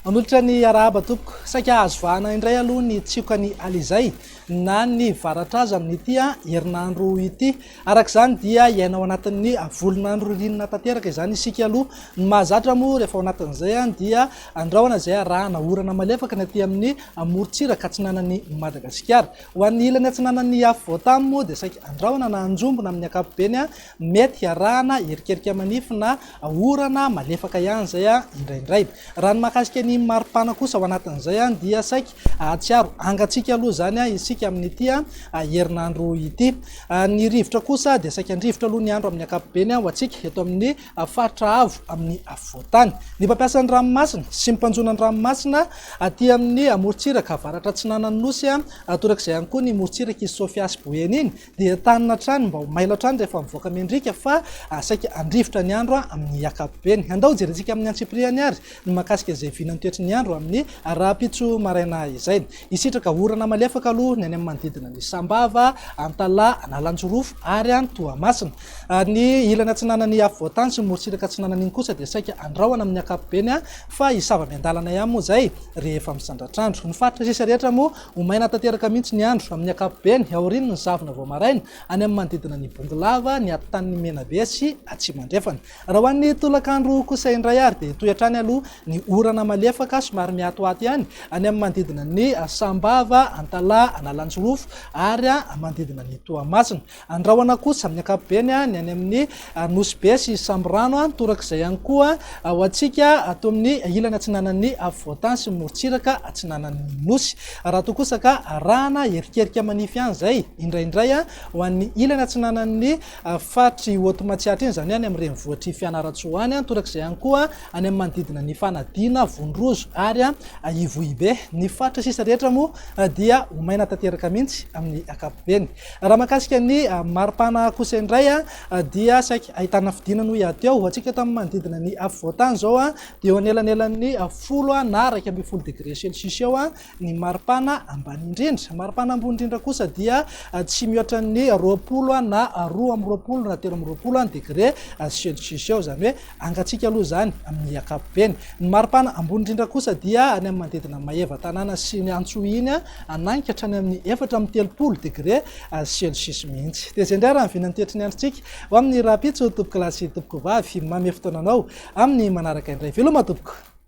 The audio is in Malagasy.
Manolotra ny arahaba tompoko. Saika azo vahana indray aloha ny tsioka ny alizay na ny varatraza amin'ity herinandro ity. Araka izany dia hiaina ao anatin'ny volon'andro ririnina tanteraka izany isika aloha. Ny mahazatra moa rehefa ao anatin'izay dia andrahona izay arahana orana malefaka ny aty amin'ny morontsiraka atsinanan'i Madagasikara. Ho an'ny ilany atsinanan'ny afovoan-tany moa dia saika andrahona na anjombona amin'ny ankapobeny, mety hiarahana erikerika manify na orana malefaka ihany izay indraindray. Raha ny mahakasika ny maripana kosa ao anatin'izay dia saika Hahatsiaro hangatsiaka aloha izany isika amin'ity herinandro ity. Ny rivotra kosa dia saika an-drivotra aloha ny andro amin'ny ankapobeny ho antsika eto amin'ny faritra avo amin'ny afovoan-tany. Ny mpampiasa ny ranomasina sy ny mpanjono ny ranomasina aty amin'ny morontsiraka avaratra atsinanan'ny Nosy, torak'izay ihany koa ny morontsirak'i Sofia sy Boeny iny, Dia entanina hatrany mba ho mailo hatrany rehefa mivoaka mendrika fa saika handrivotra ny andro amin'ny ankapobeny. Andao hojerentsika amin'ny antsipiriany àry ny mahakasika izay vinan'ny toetry ny andro amin'ny rahampitso maraina izay. Hisitraka orana malefaka aloha ny any amin'ny manodidina an'i Sambava, Antalaha, Analanjirofo ary any Toamasina. Ny ilany atsinanan'ny afovoantany sy ny morontsiraka atsinanana iny kosa dia saika handrahona amin'ny ankapobeny fa hisava miandalana ihany moa izay rehefa misandratr'andro. Ny faritra sisa rehetra moa Ho maina tanteraka mihitsy ny andro, amin'ny ankapobeny, aorian'ny ny zavona vao maraina, any amin'ny manodidina ny Bongolava, ny atotanin'ny Menabe sy Atsimo Andrefana. Raha ho an'ny tolakandro kosa indray ary dia hitohy hatrany aloha ny orana malefaka somary mihatohato ihany, any amin'ny manodidina ny Sambava, Antalaha, Analanjirofo ary manodidina ny Toamasina. Andrahona kosa amin'ny ankapobeny ny any amin'ny Nosy Be sy Samborano, torak'izay ihany koa ho antsika ato amin'ny ilany atsinanan'ny Afovoantany sy ny morontsiraka atsinanan'ny Nosy. Raha toa kosa ka arahana erikerika manify ihany izay, indraindray ho an'ny ilany atsinanan'ny faritr'i Haute Matsiatra iny, izany hoe any amin'ny renivohitr'i Fianarantsoa any, torak'izay ihany koa any amin'ny manodidina an'i Fanadina, Vonorozo ary Ivohibe. Ny faritra sisa rehetra moa dia ho maina tanteraka mihitsy amin'ny ankapobeny. Raha mahakasika ny maripana kosa indray dia saika ahitana fidina no hiady eo. Hoantsika eto amin'ny manodidina ny afovoan-tany izao dia eo anelanelan'ny folo na iraika ambin'ny folo degré celcius eo ny maripana ambany indrindra. Maripana ambony indrindra kosa dia tsy mihoatra ny roapolo na roa amby roapolo na telo amby roapolo degré celcius eo, izany hoe Angatsika aloha izany amin'ny ankapobeny. Ny maripana ambony indrindra kosa dia any amin'ny manodidina ny maevatanàna sy ny antso iny, ananika hatrany amin'ny efatra amby telopolo degre celsius mihitsy. Dia izay indray raha ny vinan'ny toetry ny androntsika ho amin'ny rahampitso, tompokolahy sy tompokovavy. Mamy fotoana anao amin'ny manaraka indray. Veloma tompoko!